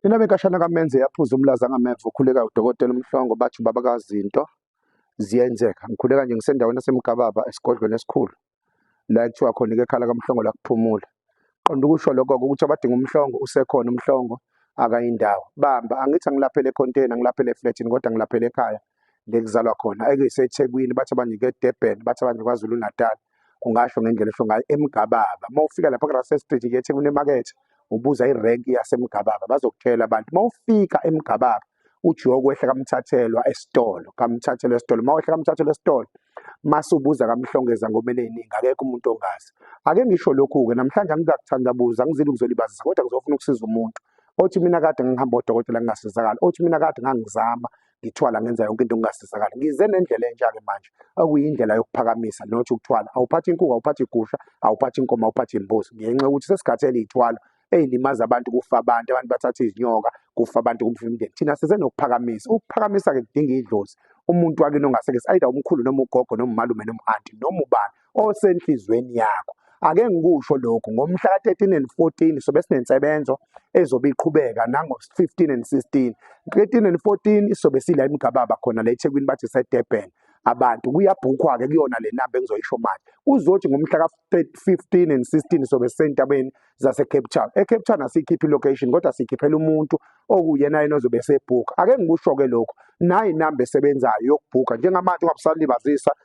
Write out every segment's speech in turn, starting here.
Inaba inkashana kaMenze yaphuza umlaza ngameva ukhuleka udokotela uMhlongo bathi ubaba kazinto ziyenzeka. Ngikhuleka nje ngisendaweni yaseMgababa esigodlweni esikhulu la ekuthiwa khona ikekhala kaMhlongo la kuphumula. Qonda ukusho lokho ukuthi abadinga uMhlongo usekhona uMhlongo akayindawo. Bamba angithi angilaphele econtainer ngilaphele eflatini kodwa ngilaphele ekhaya lekuzalwa khona. EkuyiseThekwini bathi abanye eDurban bathi abanye KwaZulu-Natal. ungasho ngendlela esho ngayo emgababa uma ufika lapha kurase street ke ethekwini emakethe ubuza irank yasemgababa bazokutshela abantu uma ufika emgababa ujoko wehla kamthathelwa esitolo kamthathelwa esitolo uma wehla kamthathelwa esitolo mase ubuza kamhlongeza ngomele iningi akekho umuntu ongazi ake ngisho lokhu-ke namhlanje angizakuthandabuza angizile ukuzolibazisa kodwa ngizofuna ukusiza umuntu othi mina kade ngihamba odokotela ngingasizakala othi mina kade ngangizama ngithwala ngenza yonke into ngingasizakali ngize nendlela entsha-ke manje okuyindlela yokuphakamisa not ukuthwala awuphathi inkuku awuphathi igusha awuphathi inkomo awuphathi imbuzi ngenxa yokuthi sesikhathi eliyithwalo eyilimaza abantu kufa abantu abantu bathatha izinyoka kufa abantu kufa imindeni thina size nokuphakamisa ukuphakamisa-ke kudinga idlozi umuntu wakini ongasekesi ayida umkhulu noma ugogo noma umalume noma u-anti noma ubani osenhlizweni yakho ake ngikusho lokhu ngomhla ka-13 and 14 sobe sinensebenzo ezobe iqhubeka nango-15 and 16 13 and 14 isobe sila imigababa khona la ethekwini bathi sedurban abantu kuyabhukhwa-ke kuyona le namba engizoyisho manje kuzothi ngomhla ka-15 and 16 sobe sisentabeni zasecape town ecape town asiyikhiphi ilocation kodwa siyikhiphela umuntu okuyena yena ozobe esebhukha ake ngikusho-ke lokhu nayi inamba esebenzayo yokubhukha njengamanje ungabusalibazisa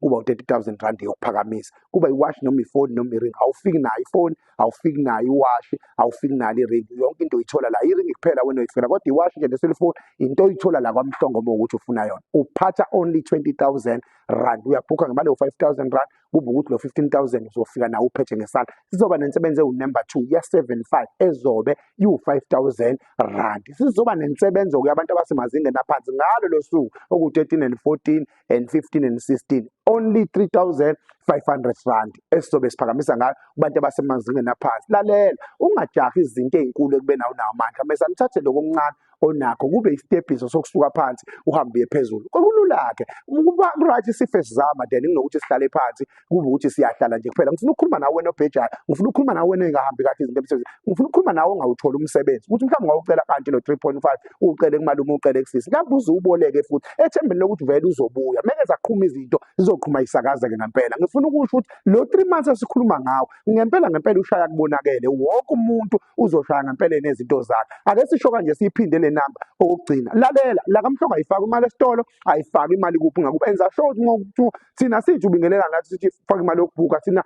kuba u-30000 rand yokuphakamisa kuba iwashi noma ifoni noma iring awufiki nayo ifoni awufiki nayo iwashi awufiki nayo iring yonke into uyithola la iring kuphela wena uyifuna kodwa iwashi nje neselifoni into oyithola la kwamhlongo uma ukuthi ufuna yona uphatha only 20000 rand uyabhukha ngemali yo-5000 rand kube ukuthi lo 15000 uzofika nawo uphethe ngesala sizoba nensebenzi ewunumber 2 ye-75 ezobe iwu-5000 rand sizoba nensebenzi okuyabantu abasemazingeni aphansi ngalo lo suku oku-13 and 14 and 15 and 16 only 3500 rand esizobe siphakamisa ngayo kubantu abasemazingeni aphansi lalela ungajahi izinto ezinkulu ekubena unawo amandla mase amthathe lokho okuncane onakho kube isitebhiso sokusuka phansi uhambe phezulu kokulula ke kuba right sife sizama then kunokuthi sihlale phansi kube ukuthi siyahlala nje kuphela ngifuna ukukhuluma nawe wena obhejayo ngifuna ukukhuluma nawe wena engahambi kahle izinto emsebenzini ngifuna ukukhuluma nawe ongawutholi umsebenzi ukuthi mhlawumbe ngawucela kanti lo 3.5 ucele kumalume ucele kusisi lapho uze uboleke futhi ethembeni lokuthi vele uzobuya meke zaqhuma izinto zizoqhuma isakazeke ngempela ngifuna ukusho ukuthi lo 3 months esikhuluma ngawo ngempela ngempela ushaya kubonakele wonke umuntu uzoshaya ngempela nezinto zakhe ake sisho kanje siyiphinde le namba okugcina lalela la kamhlongo ayifaki imali esitolo ayifaki imali kuphi ngakuba enza sure ukuthi ngokuthi thina sithi ubingelela nathi sithi faka imali yokubhuka thina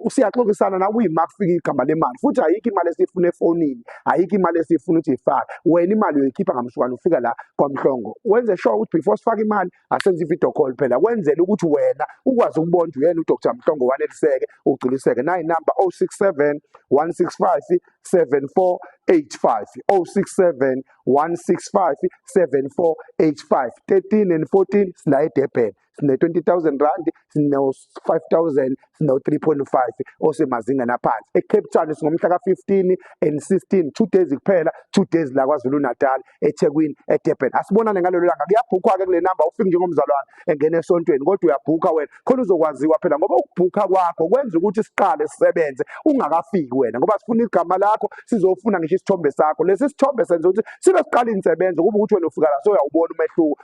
siyaxoxisana nawe uyima kufika igama lemali futhi ayikho imali esiyifuna efonini ayikho imali esiyifuna ukuthi ifake wena imali uyoyikhipha ngamsukwana ufika la kwamhlongo wenze sure ukuthi before sifake imali asenze i-video call phela kwenzela ukuthi wena ukwazi ukubona ukuthi uyena udr mhlongo waneliseke ugculiseke nayi number 067 165 74 85 067 165 74 85 13 and 14 sila edebheni sine-20,000 rand sino-5,000 sino-3.5 osemazingeni aphansi ecape town singomhla ka-15 and 16 two days kuphela two days la kwazulu-natal ethekwini edurban asibonane ngalelo langa kuyabhukhwa-ke kule namba ufike njengomzalwane engena esontweni kodwa uyabhukha wena khona uzokwaziwa phela ngoba ukubhukha kwakho kwenza ukuthi siqale sisebenze ungakafiki wena ngoba sifuna igama lakho sizofuna ngisho isithombe sakho lesi sithombe senza ukuthi sibe siqala insebenzo kuba ukuthi wena ufika la soyawubona umehluko